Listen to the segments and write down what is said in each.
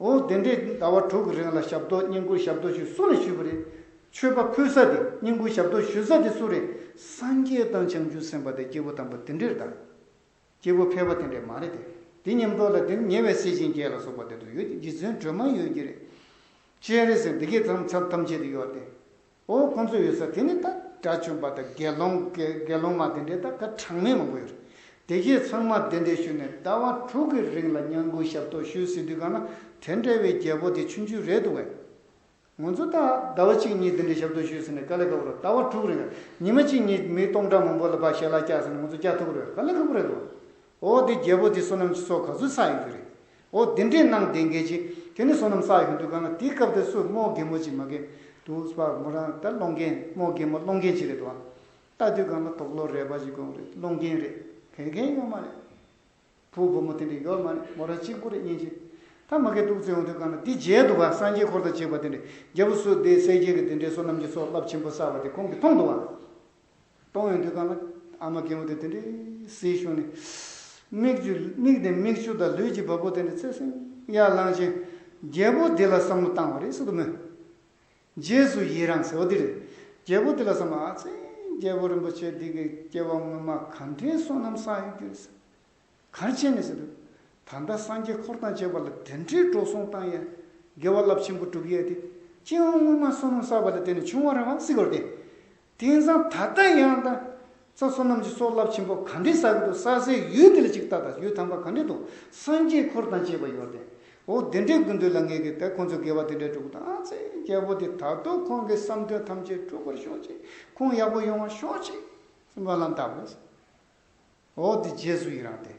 འོ་དེ་འདྲས་ཟླ་བ་དྲུག་གི་རིང་ལ་ཞབས་ཏོག་བསྙེན་བཀུར་ཞབས་ཏོག་ཞུས་སུ་ལ་ཞུས་པ་རེད། མཆོད་པ་ཕུལ་ས་དེ་བསྙེན་བཀུར་ཞབས་ཏོག་ཞུས་ས་དེ་སུ་རེད། སངས་རྒྱས་དང་བྱང་ཆུབ་སེམས་དཔའ་དེ་སྐྱེ་བོ་དང་པོ་དེ་འདྲས་དང། སྐྱེ་བོ་ཕལ་པ་དེ་འདྲས་མ་རེད་དེ། དེ་ཉམས་རྟོགས་ལ་དེར་ཉེ་བའི་སྲས་གཤིན་རྒྱལ་ལ་སོགས་པ་དེ་ཚོ་ཡོད་དེ་རྗེ་བཙུན་སྒྲོལ་མ་ཡོད་ཀྱི་རེད། སྤྱན་རས་གཟིགས་འདི་གའི་མཚམས་ཐམས་ཅད་དུ་ཡོད་དེ། འོ་ཁོང་ཚོ་ཡོད་ས་དེ་ནི་ད་དགྲ་བཅོམ་པ་དང་དགེ་སློང་དགེ་སློང་མ་དེ་འདྲས་ད་ག་གྲངས་མེད་མང་པོ་ཡོད་རེད། དེ་ཁྱེད་ཚང་མ་དེ་འདྲས་ཞུས་ནས་ཟླ་བ་དྲུག་གི་རིང་ལ་སྙན་སྐུལ་ཞབས་ཏོག་ཞུས་ཟིན་དུས་གང་ན་དེ་འདྲས་བའི་རྒྱལ་པོ་དེ་ཆུང་ཆུང་རེད་འདུག་བས། ང་ཚོ་ད་ཟླ་བ་གཅིག་གཉིས་དེ་འདྲས་ཞབས་ཏོག་ཞུས་ཟིན་ནས་ག་ལེ་ག་པོ་རེད་ཟླ་བ་དྲུག་རིང་ཉི་མ་གཅིག་གཉིས་མི་སྟོང་ཕྲག་མང་པོ་ལ་བ་ཞལ་ལག་བཀྱགས་ཟིན་ནས་ང་ཚོ་བཀྱགས་ཐུབ་ཀི་རེད་ག་ལེ་ག་པོ་རེད་འདུག་འོ་དེ་རྒྱལ་པོ་དེ་བསོད་ནམས་ཀྱི་ཚོགས་ག་ཚོད་བསགས་ཡོད་རྒྱུ་རེད། འོ་དེ་འདྲས་གནང་བདེན་གལ་ཆེ། དེ་ནི་བསོད་ནམས་བསགས་ཡོད་འདུག་ག་ང་དེའི་སྐབས་དེར་སོས་རྨོག་རྒན་མོ་ཅིག་མ་གན་འདུག་སྤ་མོ་རང་ད་སློང་རྒན་རྨོག་རྒན་མོ་སློང་རྒན་ཅིག་རེད་དོ། ལྟ་དུས་ག་ང་དོག་ལོ་རས་པ་ཅིག་གོང་རེད་སློང་རྒན་རེད་གན་མཁན་ཡོད་མ་རེད། བུ་བུ་མོ་དེ་འདྲས་ཡོད་མ་རེད་མོ་རང་གཅིག་པུ་རེད་སྙན་ཅིག་ད་མ་གན་འདུག་ཚེ་ཡོང་དུས་ག་ང་འདི་མཇལ་འདུག་ག་སངས་རྒྱས་འཁོར་དང་བཅས་པ་དེ་འདྲས་རྒྱལ་པོ་བསོད་བདེ་གསལ་རྒྱལ་གྱི་དེ་འདྲས་བསོད་ནམས་ཀྱི་ཚོགས་རླབས་ཆེན་པོ་བསགས་པ་དེ་ཁོང་གིས་མཐོང་འདུག་ག། གཏོང་ཡོང་དུས་གང་ལ། ཨ་མ་རྒན་མོ་དེ་དེ་འདྲའི་བསིལ་ཤོག་ནི། མིག་ཆུ། མིག་དེ་མིག་ཆུ་དང་ལུས་ཀྱི་བ་སྤུ་དེ་འདྲའི་ཚད་སིང་ཡར་བསླངས་ཕྱིན། རྒྱལ་པོ་འདི་ལ་བསམ་བློ་བཏང་བ་རེད་སོ་དུ་མོས། རྗེས་སུ་ཡི་རང་ཟེར་བ་འདི་རེད། རྒྱལ་པོ་འདི་ལ་བསམ་བློ་ཨ་ཚེ། རྒྱལ་པོ་རིན་པོ་ཆེ་འདི་གི་སྐྱེ་བ་སྔོན་མ་ག་འདྲའི་བསོད་ནམས་བསགས་ཡོད་རྒྱུ་རེད། གང་བྱས་ནས་ཟེར། ད་ལྟ་སངས་རྒྱས་འཁོར་དང་བཅས་པ་ལ་དེ་འདྲའི་འགྲོ་སོང་བཏང་ཡས། དགེ་བ་རླབས་ཆེན་པོ་བསྒྲུབ་ཡས་ཏེ། སྤྱི་བོའང་སྔོན་མ་བསོད་ནམས་བསགས་པ་ལས་དེ་ནས་བྱུང་བ་རང་བསིལ་བར་ཏེ། དེང་སང་ད་ལྟ་ཡང་དང། རྩ་བསོད་ནམས་ཀྱི་སྲོག་རླབས་ཆེན་པོ་ག་འདྲས་བསགས་ཀྱི་འདུག་བསགས་སའི་ཡུལ་དེ་ལ་ཅིག་བལྟ་དང་ཡུལ་དམ་པ་ག་འདྲས་འདུག་སངས་རྒྱས་འཁོར་དང་བཅས་པ་ཡོད་དེ། འོ་དེ་འདྲའི་དགོས་འདོད་ལ་ངེས་ཀྱི་དེ་ཁོང་ཚོས་དགེ་བ་དེ་འདྲས་བསྒྲུབ་དང་ཚེ་རྒྱལ་པོ་དེ་ད་དུང་ཁོང་གི་བསམ་དོན་ཐམས་ཅད་འགྲུབ་པར་ཤོག་ཅིག་ཁོང་ཡག་པོ་ཡོང་བར་ཤོག་ཅིག་སྨོན་ལམ་བཏབ། འོ་འདི་རྗེས་སུ་ཡི་རང་སྟེ།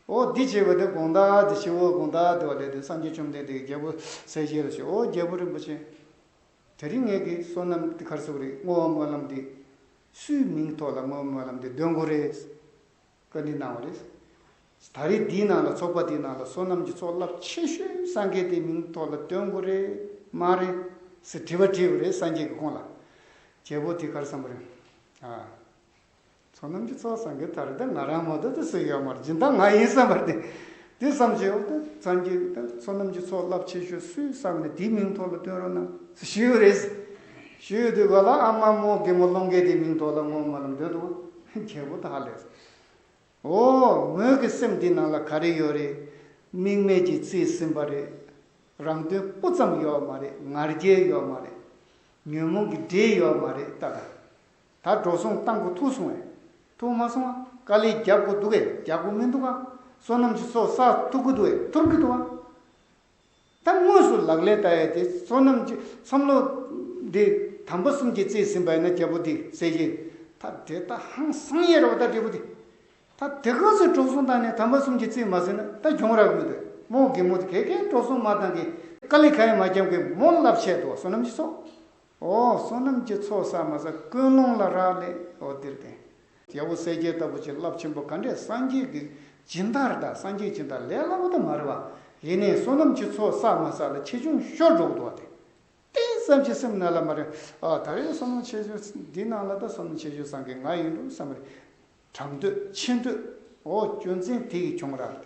འོ་འདི་བྱས་པ་དེ་དགོངས་དག་འདི་ཞེས་འོ་དགོངས་དག་འདི་བ་ལས་དེ་སངས་རྒྱས་བཅོམ་ལྡན་འདས་ཀྱི་རྒྱལ་པོ་གསལ་བྱེད་ལ་ཞེས་འོ་རྒྱལ་པོ་རིན་པོ་ཆེ། དེ་རིང་ངེད་ཀྱི་བསོད་ནམས་འདི་གར་སོགས་རེ་བསྔོ་བ་སྨོན་ལམ་འདི། སུའི་མིང་ཐོག་ལ་བསྔོ་བ་སྨོན་ལམ་འདི་འདོན་དགོས་རེད། བཀའ་འདྲི་གནང་བ་རེད། ད་རེས་འདིའི་ནང་ལ་ཚོགས་པ་འདིའི་ནང་ལ་བསོད་ནམས་ཀྱི་ཚོགས་རླབས་ཆེ་ཤོས་སངས་རྒྱས་དེའི་མིང་ཐོག་ལ་འདོན་དགོས་རེད་མ་རེད། ཟེར་དྲི་བ་དྲིས་པ་རེད་སངས་རྒྱས་ཀྱི་ཁོང་ལ། རྒྱལ་པོ་དེ་གར་བསམ་པ་རེད། ཚོགས་རྣམས་ཀྱི་ཚོགས་སངས་རྒྱས་ཐར་ཏེ་ང་རང་མ་གཏོགས་ཏེ་སུ་ཡོད་མ་སྦྱིན་བདག་ང་ཡིན་བསམ་པར་ཏེ། དེ་བསམ་བྱའི་འོག་ཏུ་ཚངས་རྒྱས་ཀྱི་ཚོགས་རྣམས་ཀྱི་ཚོགས་རླབས་ཆེ་ཤོས་སུ་བསམ་ནས་དེའི་མིང་ཐོགས་ལ་སྟོན་རོགས་གནང། ཞུས་རེ། ཞུས་དུས་ག་ལ་ཨ་མ་མོ་རྒན་མོ་ཀློང་རྒན་དེའི་མིང་ཐོགས་ལ་བསྔོ་མ་ལམ་འདོན་དུ་རྒྱལ་པོ་དག་ལས། འོ། ངོས་ཀྱི་སེམས་འདི་ནང་ལ་ག་རེ་ཡོད་རེད། དམིགས་མེད་ཀྱིས་བརྩིས་ཟིན་པ་རེད། རང་དོན་སྤུ་ཙམ་ཡོད་མ་རེད་ངར་རྒྱལ་ཡོད་མ་རེད། ཉོན་མོངས་ཀྱི་འདྲེ་ཡོད་མ་རེད་ལྟ་དང། ད་འགྲོ་སོང་གཏང་དགོས་ཐུག་སོང་བས། ཐུག་མ་སོང་ཨ། དཀའ་ལས་རྒྱག་དགོས་འདུག་བས་རྒྱག་དགོས་མི་འདུག་ཨ། བསོད་ནམས་ཀྱི་སོ་སར་ཐུག་གི་འདུག་བས་ཐུག་གི་འདུག་ཨ། ད་དངོས་སུ་ལག་ལེན་བསྟར་ཡ་དེ་བསོད་ནམས་ཀྱི་བསམ་བློ། འདི་དམ་པ་གསུམ་གྱི་བརྩེས་ཟིན་པ་ཡིན་ན་རྒྱལ་པོ་འདིས་ཟེར་གྱི། ད་དེ་ལྟ་ཧང་སང་ཡས་ར་བ་ད་འབྲས་བུ་འདི། ད་དེ་ག་ཚོད་འགྲོ་སོང་བཏང་ནས་དམ་པ་གསུམ་གྱི་བརྩེས་མ་ཟིན་ན་ད་གྱོང་ར་གི་མི་འདུག་བས་མོ་རྒན་མོ་དེ་གས་གས་འགྲོ་སོང་མ་བཏང་གི། དཀའ་ལས་ག་ཡང་མ་རྒྱབ་གི་མོ་རླབས་ཆད་འདུག་བསོད་ནམས་ཀྱི་སོ། ཨོ་བསོད་ནམས་ཀྱི་ཚོགས་ཟ་མ་ཟ་ཀུན་སློང་ལ་རག་ལས་ཨོ་བདེར་ལྡན། རྒྱལ་པོ་གསལ་རྒྱལ་ལྟ་བུ་བྱིན་རླབས་ཆེན་པོ་ག་འདྲས་སངས་རྒྱས་ཀྱི་སྦྱིན་བདག་རེ་ད་སངས་རྒྱས་སྦྱིན་བདག་ལས་སླ་པོ་དུ་མ་རེད་བ། ཡེ་ནས་བསོད་ནམས་ཀྱི་ཚོགས་ཟ་མ་ཟ་ལ་ཆེ་ཆུང་ཤོར་འགྲོ་གི་འདུག་བ་དེ་ཏིང་ཙམ་གྱི་སེམས་ན་ལ་མ་རེད་ཨ་ད་རེས་བསོད་ནམས་ཆེ་ཆུང་འདི་ནང་ལ་ད་བསོད་ནམས་ཆེ་ཆུང་བཟང་གི་ང་ཡིན་འགྲོ་བསམ་རེད། གྲགས་འདོད་ཆེ་འདོད་ཨོ་སྐྱོན་ཅན་དེ་ཡིས་བྱུང་རག་ལས།